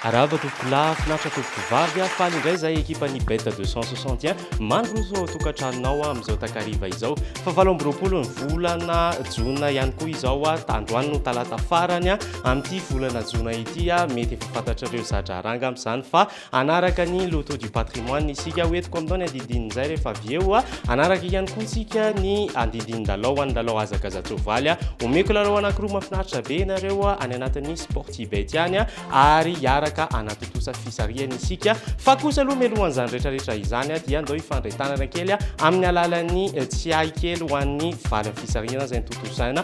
Arahaba tompoko lahy, finaritra tompoko vavy, faly indray izay ekipan'ny Bet 261 mandroso ao tokantranonao amin'izao takariva izao. Fa valo amby roapolo ny volana jona ihany koa izao, androany no talata farany, amin'ity volana jona ity a mety efa fantatrareo zadraranga amin'izany fa anaraka ny loto du patrimoine isika ho etiko amin'izao ny andidinin'izay rehefa avy eo a anaraka ihany koa isika ny andidinin-dalao an'ny lalao azakazatsoavaly a omeko lalao anakiroa mafinaritra be ianareo a any anatin'ny sportibet ihany a ary hiaraka anatontosa fisarihana isika fa kosa aloha melohan'izany rehetrarehetra izany a dia andao hifandray tanana kely a amin'ny alalan'ny eh, tsiahy kely ho an'ny valin'ny fisarihana izay nitotosaina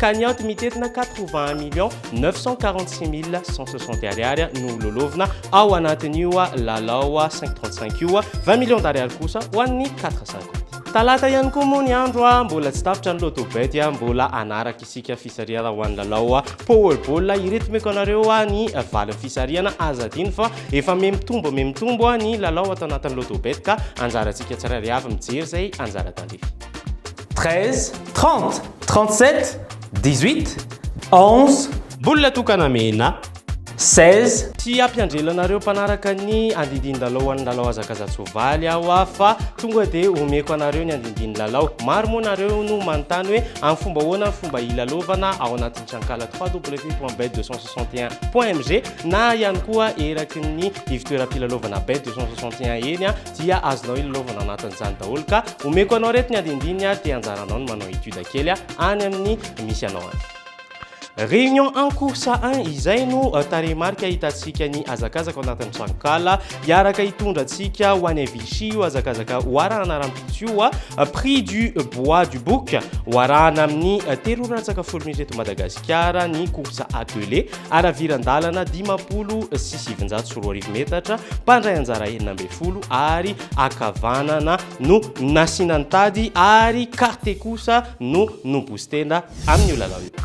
ka ny anti-mitetina quatre vingt un millions neuf cent quarante six mille cent soixante ariary no ho lôlovina ao anatin'io lalao cinq trente cinq io, vingt millions d'ariary kosa ho an'ny quatre cinquante. Talata ihany koa moa ny andro, mbola tsy tapitra ny Lotto Bet, mbola hanaraka isika fisarihana ho an'ny lalao Power Ball, iretomeko anareo ny valin'ny fisarihana, aza adino fa efa mihamitombo mihamitombo ny lalao ato anatin'ny Lotto Bet ka anjarantsika tsirairay avy mijery izay anjara tandrify. Treize, trente, trente-sept, dix-huit, onze. Mbola tokana mena. Seize. Tsy hampianjela anareo mpanaraka ny andindin-dalao an'ny lalao hazakaza-tsoavaly aho aho fa tonga dia omeko anareo ny andindin'ny lalao. Maro moa nareo no manontany hoe amin'ny fomba ahoana ny fomba hilalaovana ao anatin'ny trankalat www.bet261.mg na ihany koa eraky ny ivotoeram-pilalaovana bet261 eny. dia azonao ilalaovana anatin'izany daholo ka omeko anao reto ny andindininy ary dia anjaranao ny manao étude kely any amin'ny misy anao any. Réunion en cours à 1 izay no euh, tarehimarika hitantsika ny hazakazaka ao anatin'ny tranonkala hiaraka hitondra antsika ho any Vichy io hazakazaka hoarahana rahampitso io a euh, prix du bois du bouc hoarahana amin'ny euh, telo ora latsaka folo minitra eto Madagasikara Kiara ny course à deux lé, haraviran-dalana dimampolo sy sivinjato sy roa arivo metatra, mpandray anjara enina ambin'ny folo ary ankavanana no nasiana ny tady ary carte kosa no no-booster-na amin'io lalao io.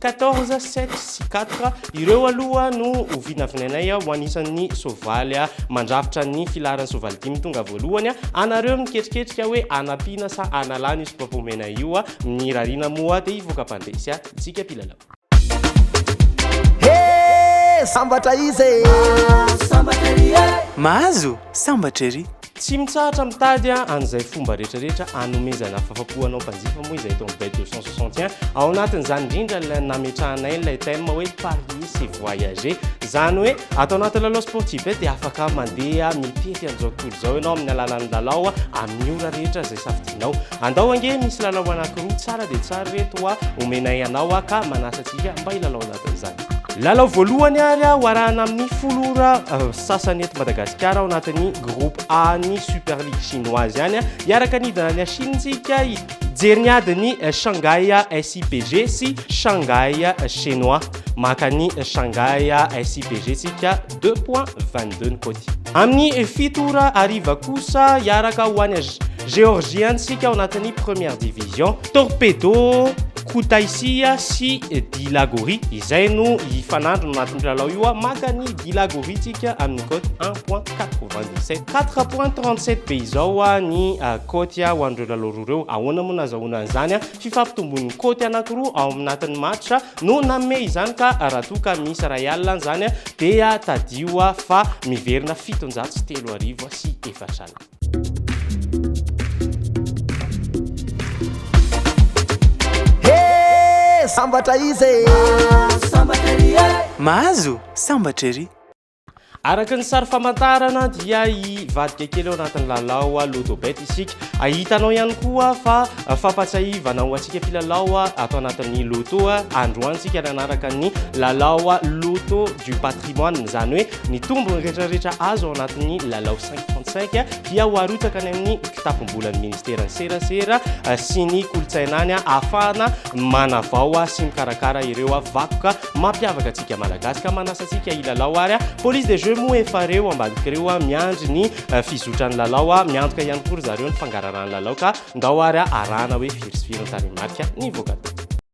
Quatorze, sept sy quatre, ireo aloha no ho vinavinainay ho anisan'ny soavaly mandrafitra ny filaharan'ny soavaly dimy tonga voalohany. Anareo no miketriketrika hoe anampiana sa analana io soapapa omena io. Ny rariana moa dia hivoaka mpandresy antsika mpilalao. Hee! Sambatra iza e! Mahazo sambatra ery! Tsy mitsahatra mitady an'izay fomba rehetrarehetra hanomezana fahafapo anao mpanjifa moa izahay eto amin'ny Bête de 161. Ao anatin'izany indrindra ilay nametrahanay ilay thème hoe Parier c'est voyager. Izany hoe ato anaty lalao Sportibet dia afaka mandeha mitety an'izao tontolo izao ianao amin'ny alalan'ny lalao amin'ny ora rehetra izay safidianao. Andao ange, misy lalao anankiroa tsara dia tsara ireto homenay anao ka manasa antsika mba hilalao lalao. zany. Lalao voalohany ary aho arahana amin'ny folo ora euh, sasany eto Madagasikara ao anatin'ny groupe A ny Super League chinoise ihany hiaraka nidana ny Ashintsika hijery ny adin'ny euh, Shanghai SIPG sy Shanghai Chinois maka ny Shanghai SIPG tsika 2 point 22 ny kôty amin'ny fito ora ariva kosa hiaraka ho any Géorgie antsika ao anatin'ny première division Torpedo, Kutaisia sy Dilagori izay no hifanandrina ao anatin'io lalao io. Maka ny Dilagori tsika amin'ny cote 1.97. 4.37 be izao ny cote ho an'ireo lalao roa ireo. Ahoana moa no azahoana an'izany? Fifampitombon'ny cote anankiroa ao anatin'ny match no nanome izany ka raha toa ka misy iray alina izany dia tadidio fa miverina fitonjato sy telo arivo sy efatra alina. sambatra izy e. mahazo sambatra ery araka ny sary famantarana dia hivadika kely ao anatin'ny lalao a lodobet isika ahitanao ihany koa fa fampatsahivana ho antsika filalao a ato anatin'ny loto a androantsika nanaraka ny lalao a loto du patrimoine izany hoe ny tombo retraretra azo ao anatin'ny lalao 2035 dia ho arotsaka any amin'ny kitapom-bolan'ny ministeran'ny serasera sy ny kolontsaina any ahafahana manavao sy mikarakara ireo vakoka mampiavaka antsika malagasy ka manasa antsika hilalao ary police des jeux moa efa reo ambadika reo miandry ny fizotran'ny lalao miantoka ihany koa ry zareo ny fangaraharahan'ny lalao ka ndao ary arahana hoe firy sy firy ny tarehimarika nivoaka tao.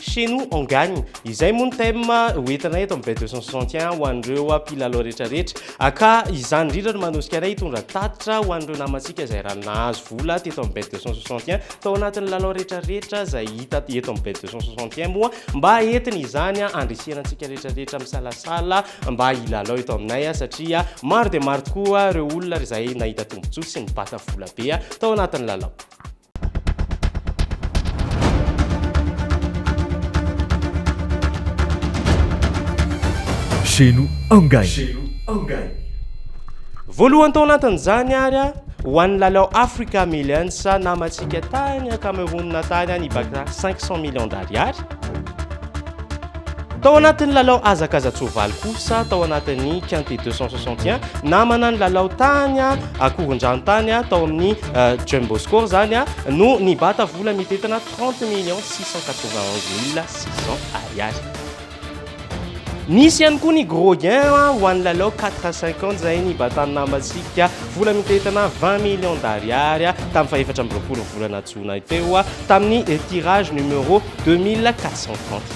Chez nous on gagne. Izay moa ny thème ho entina eto amin'ny bet 261 ho an'ireo mpilalao rehetrarehetra. Ka izany indrindra no manosika anay hitondra tatitra ho an'ireo namantsika izay ra nahazo vola teto amin'ny bet 261 tao anatin'ny lalao rehetrarehetra izay hita eto amin'ny bet 261 moa mba entina izany andrisihana antsika rehetrarehetra misalasala mba hilalao eto aminay satria maro dia maro tokoa ireo olona izay nahita tombontsoa sy nibata vola be tao anatin'ny lalao. Chez nous engagné. Voalohany tao anatin'izany ary ho an'ny lalao Africa Millions namantsika tany Cameroun tany any baka cinq cent millions d'ariary. Tao anatin'ny lalao hazakaza-tsoavaly kosa tao anatin'ny Quintet deux cent soixante et un namana nilalao tany akorondranontany tao amin'ny Jumboscore izany no nibata vola mitentina trente millions six cent quatre-vingt-onze mille six cents ariary. Nisy ihany koa ny gros gain ho an'ny lalao quatre à cinq ans izay nibatan'ny nambatsika vola mitentina vingt millions d'ariary tamin'ny fahefatra amby roapolo volana jona teo tamin'ny tirage numéro deux mille quatre cent trente.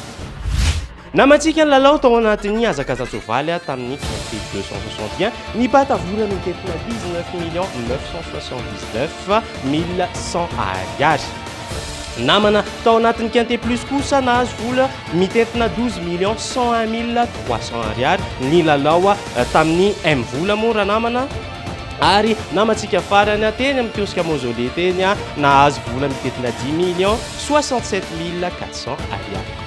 Namantsika ny lalao tao anatin'ny hazakaza-tsoavaly tamin'ny trophée deux cent soixante et un ny mpatavoran'ny Tefona dix neuf millions neuf cent soixante dix neuf mille cent Ariary. Namana tao anatin'ny Quintet Plus kosa nahazo vola mitentina douze millions cent un mille trois cents Ariary ny lalao tamin'ny M Vola moa ranamana ary namantsika farany teny amin'ny kiosque Mausolée teny nahazo vola mitentina dix millions soixante sept mille quatre cents Ariary.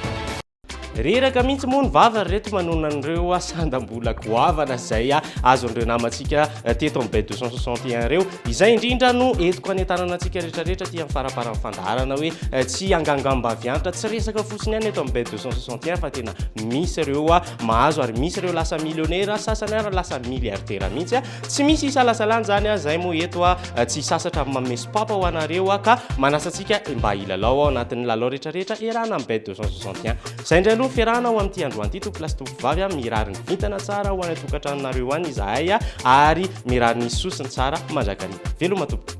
Reraka mihitsy moa ny vava ry reto manona an'ireo sandam-bola goavana izay azon'ireo namantsika teto amin'ny Bay 261 ireo. Izay indrindra no entiko hanentanana antsika rehetrarehetra aty amin'ny faramparan'ny fandaharana hoe tsy hangangambaviantra, tsy resaka fotsiny ihany eto amin'ny Bay 261 fa tena misy ireo mahazo ary misy ireo lasa milionera, sasany ary lasa miliaridera mihitsy. Tsy misy isalasalan'izany aho izay moa eto aho tsy hisasatra amin'ny manome sopapa ho anareo aho ka manasa antsika mba hilalao ao anatin'ny lalao rehetra rehetra iarahana amin'ny bet 261. Izay indray aloha ny fiarahana ho amin'ity androany ity tompolahy sy tompovavy a! Mirary ny vintana tsara ho any an-tokantranonareo any izahay ary mirary ny soa sy ny tsara mandrakariva. Veloma tompoko!